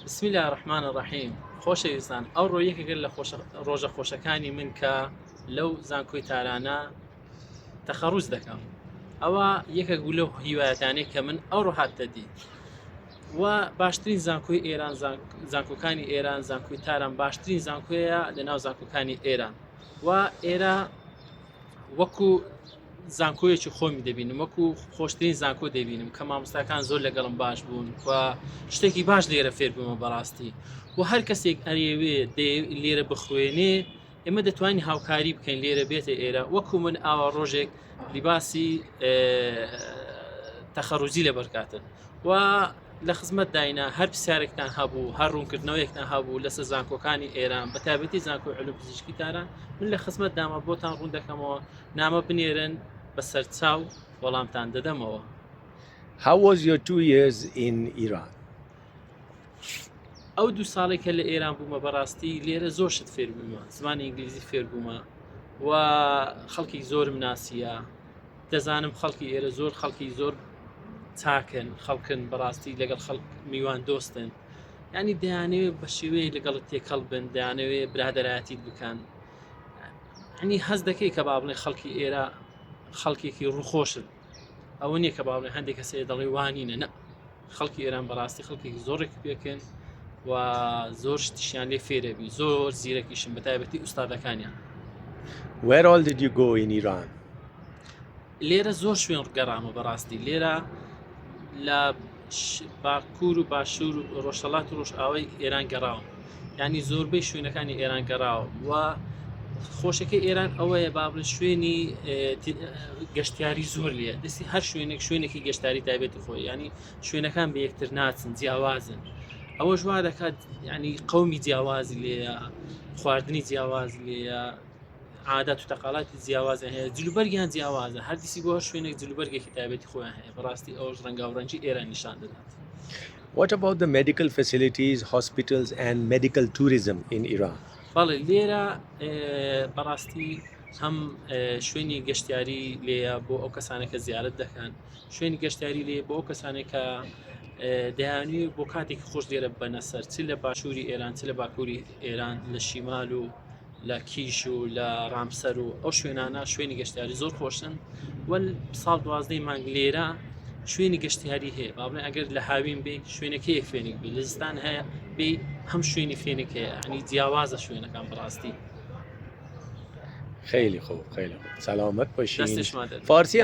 بسم الله الرحمن الرحیم خۆشەویستان ئەو ڕۆ یەکێکە لە ڕۆژە خۆشەکانی من کە لەو زانکۆی تارانە تەخەڕوز دەکەم ئەوە یەکە گولە هیوایەتانێک کە من ئەو ڕۆهاتە دی و باشترین زانکۆی ئێران زانکۆکانی ئێران زانکۆی تاران باشترین زانکۆیە لە ناو زانکۆکانی ئێران و ئێرە وەکو زانکۆیەکی خۆمی دەبینم وەکو خۆشترین زانکۆ دەبینم کە مامۆستاکان زۆر لەگەڵم باش بوون و شتێکی باش لێرە فێر بوومە بەڕاستی و هەر کەسێک ئەرێوێ لێرە بخوێنێ ئێمە دەتوانین هاوکاری بکەین لێرە بێتە ئێرە وەکو من ئاوا ڕۆژێک لیباسی تەخەڕوزی لەبەرکاتن و لە خزمەتداینە هەر پرسیارێکتان هەبوو هەر ڕوونکردنەوەیەکتان هەبوو لەسە زانکۆکانی ئێران بە تابەتی زانکۆی علوم پزیشکی تاران من لە خزمەت دامە بۆتان ڕوون دەکەمەوە نامە بنێرن بە سەرچاو وەڵامتان دەدەمەوە How was your two years in Iran? ئەو دوو ساڵێک کە لە ئێران بوومە بەڕاستی لێرە زۆر شت فێربوومە زمانی ئینگلیزی فێربوومە و خەڵکی زۆرم ناسیە دەزانم خەڵکی ئێرە زۆر خەڵکی زۆر چاکن خەڵکن بەڕاستی لەگەڵ خەڵک میوان دۆستن ینی دەیانەوێت بە شێوەیە لەگەڵت تێکەڵ بن دەیانەوێت برادەرایەتیت بکەن ئەنی هەز دەکەی کە با بڵێ خەڵکی ئێرە خەڵکێکی ڕوخۆشن ئەوە نییە کە با بڵێ هەندێک کەسێ دەڵێ وانینە نە خەڵکی ئێران بەڕاستی خەڵکێکی زۆڕێکی پێکەن و زۆر شتیشیان لێ فێرەبی زۆر زیرەکیشم بە تایبەتی ئوستادەکانیان Where all did you go in Iran? لێرە زۆر شوێن گەڕامە بەڕاستی لێرە لە باکوور و باشوور و ڕۆژهڵات و ڕۆژئاوای ئێران گەڕاوم یانی زۆربەی شوێنەکانی ئێران گەڕاوە و خۆشەکەی ئێران ئەوەیە بابلە شوێنی گەشتیاری زۆر لە دەستی هەر شوێنێک شوێنێکی گەشتاری تایبێتی خۆی ینی شوێنەکان بە یەکتر ناچن جیاوازن ئەوە ژوا دەکات ینی قومی جیاوازی لێە خواردنی جیاواز لێە عادات و تەقاڵاتی جیاوازە هەیە جلوبەرگیان جیاوازە هەردیسی بۆ شوێنێک جلوبەرگێکی تایبێتی خۆیان هەیە بەڕاستی ئەوش ڕەنگاوڕەنجی ئێرە نیشان دەدات. What about the medical facilities, hospitals and medical tourism in Iran? بەڵێ لێرە بەڕاستی هەم شوێنی گەشتیاری لێە بۆ ئەو کەسانە کە زیارت دەکەن شوێنی گەشتیاری لێ بۆ کەسانێک کە دەیانوی بۆ کاتێکی خۆش لێرە بەنەسەر چ لە باشووری ئێران چ لە باکووری ئێران لە شیمال و لە کیش و لە ڕامسەر و ئەو شوێنانە شوێنی گەشتاری زۆر خۆشن وەل ساڵ دوازدەی مانگ لێرە شوێنی گەشتیاری هەیە باڵێ ئەگەر لە هاوین بێ شوێنەکەی فێنک بێ لەستان هەیە بێ هەم شوێنی فێنک هەیە ئەنی جیاوازە شوێنەکان بڕاستی خیلی خوب خیلی خوب سلامت باشی فارسی